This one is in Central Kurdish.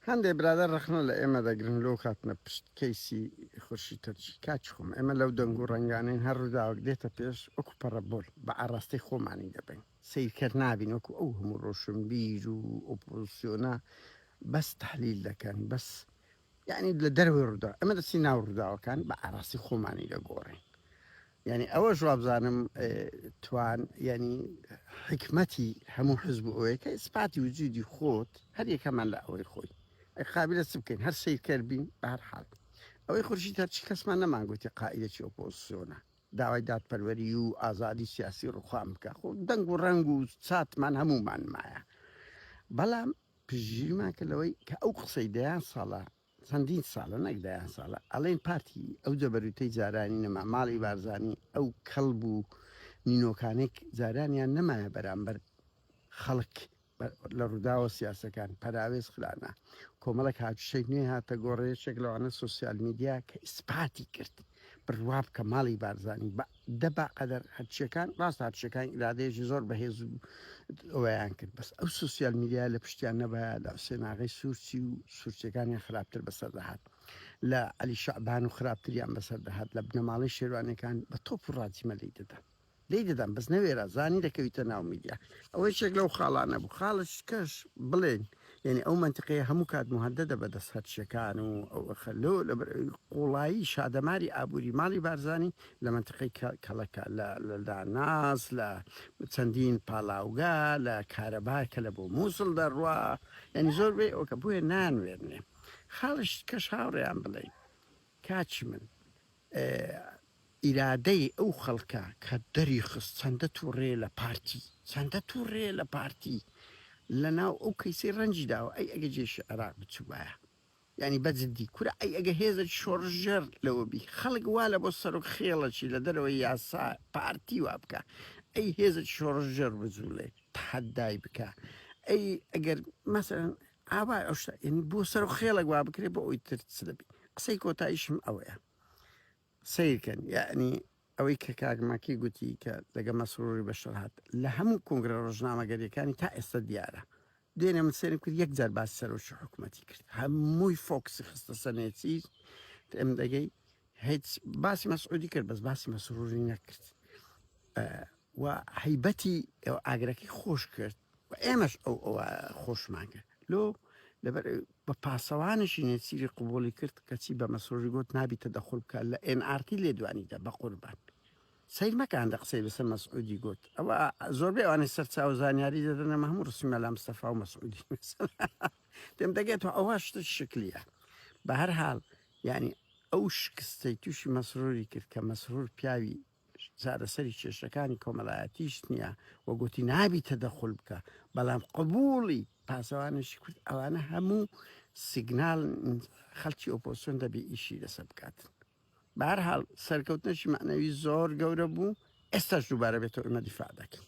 هەندێ برادەر ڕەخنە لە ئێمە دەگرن لۆ کاتنە پشت کەیسی خورشید تورکی کاکی خۆم ئێمە لەو دەنگ و ڕەنگانەین هەر ڕوداوەک دێتە پێش وەکو پەڕە بۆل بە ئاڕاستەی خۆمانی دەبەین سەیرکەر نابین وەکو ئەو هەموو ڕۆشنبیر و ئۆپۆزسیۆنە بەس تەحلیل دەکەن بەس یانی لە دەرەوەی ڕوداو ئێمە دەچین ناو ڕوداوەکان بە ئاڕاستی خۆمانی دەگۆڕین. یانی ئەوەش وابزانم توان یانی حیکمەتی هەموو حزب و ئەوەیە کە ئیسپاتی وجودی خۆت هەر یەکەمان لە ئەوەی خۆی ئەی قابلە چ بکەین هەر سیرکەر بین بە هەر حال ئەوەی خورشی تەرچی کەسمان نەمانگوتی قائیدەکی ئۆپۆزسیۆنە داوای دادپەروەری و ئازادی سیاسی ڕوخان بکە خۆ دەنگ و ڕەنگ و چاتمان هەمومان مایە بەڵام پژیرمان کە لەوەی کە ئەو قسەی دەیان ساڵە چەندین ساڵە نەک دەیان ساڵە ئەڵێن پارتی ئەو جەبەروتەی جارانی نەما ماڵی بارزانی ئەو کەڵب و نینۆکانێک جارانیان نەمایە بەرامبەر خەڵک لە ڕووداوە سیاسەکان پەراوێز خرانا کۆمەڵک هاتوشێک نوێ هاتە گۆڕێشێک لەوانە سوسیال میدیا کە ئیسپاتی کرد بڕواب کە ماڵی بارزانی بە دە با قەدەر هەرچیەکان ڕاستە هەرچیەکان ئیرادەیەکی زۆر بەهێز و ئەویان کرد بەس ئەو سوسیال میدیا لە پشتیان نەبایە لە حسێناغی سوورچی و سوورچەکانیان خراپتر بەسەر دەهات لە علی شعبان و خراپتریان بەسەر دەهات لە بنەماڵی شێوانەکان بە تۆپ و ڕاجیمە لی دەدان لی دەدان بەس نەوێرا زانی دەکەویتە ناو میدیا ئەوەی شێک لەو خاڵانە بوو خاڵش کەش بڵێن یانی ئەو مەنتقەیە هەموو کات موهەدەدە بە دەست هەرچیەکان و ئەو ئەخە لۆ لە بەر قوڵایی شادەماری ئابووری ماڵی بارزانی لە مەنتقەی کەڵەکە لە لە داناس لە چەندین پاڵاوگا لە کارەبا کە لە بۆ مووسڵ دەڕوا یانی زۆر بێ ئەوکە بۆیە نانوێنێ خاڵش کەش هاوڕێیان بڵێین کاچی من ئیرادەی ئەو خەڵکە کە دەریخست چەندە توڕەیە لە پارتی چەندە توڕەیە لە پارتی لە ناو ئەو کەیسەی ڕەنجی داوە ئەی ئەگە جێشی عێراق بچوبایە یانی بە جدی کورە ئەی ئەگە هێزەکی شۆڕشگێڕ لەوە بی خەڵک وا لە بۆ سەرۆک خێڵەکی لە دەرەوەی یاسا پارتی وا بکا ئەی هێزەکی شۆڕشگێڕ بجوڵێ تەحەدای بکا ئەی ئەگەر مەسەلەن ئاوا ئەو شتە یعنی بۆ سەر و خێڵێک وا بکرێ بۆ ئەوی تر چ دەبی قسەی کۆتاییشم ئەوەیە سیرکەن یعنی ئەوەی کە کاگماکی گوتی کە لەگە مەسروری بەشەر هات لە هەموو کۆنگرە ڕۆژنامەگەریەکانی تا ئێستا دیارە دوێنێ من سێرم کرد یەک جار باس سەرۆکی حکوومەتی کرد هەمووی فۆکسی خستە سەنێتی ئەم دەگەی هیچ باسی مەسعودی کرد بەس باسی مەسروری نەکرد و حیبەتی ئەو ئاگرەکەی خۆش کرد و ئێمەش ئەو ئەو خۆشمان کرد لۆ لەبەر بە پاسەوانشی نێسیری قوبولی کرد کەچی بە مەسرۆژی گوت نابیتە دەخل بکە لە NRT لێدوانیدا بە قوربان سیر مەکان دە قسەی لەسەر مەسعودی گوت ئەوە زۆربەی ئەوانەی سەرچاو زانیاری دەدەنە مە هەموو ڕسیمە لە مستەفا و مەسعودی پێم دەگێت و ئەوە شتە شکلیە بە هەر حال یانی ئەو شکستەی توشی مەسروری کرد کە مەسرور پیاوی چارەسەری کێشەکانی کۆمەلایەتیش نییە و گوتی نابی تەدەخول بکە بەڵام قبولی پاسەوانێکی کورد ئەوانە هەموو سیگنال خەلکی ئۆپۆسیۆن دەبی ئیشی لەسە بکاتن بارحاڵ سەرکەوتنەشی معنەوی زۆر گەورە بوو ئێستاش دووبارە بێتەوە ئمە دیفاع دەکەین.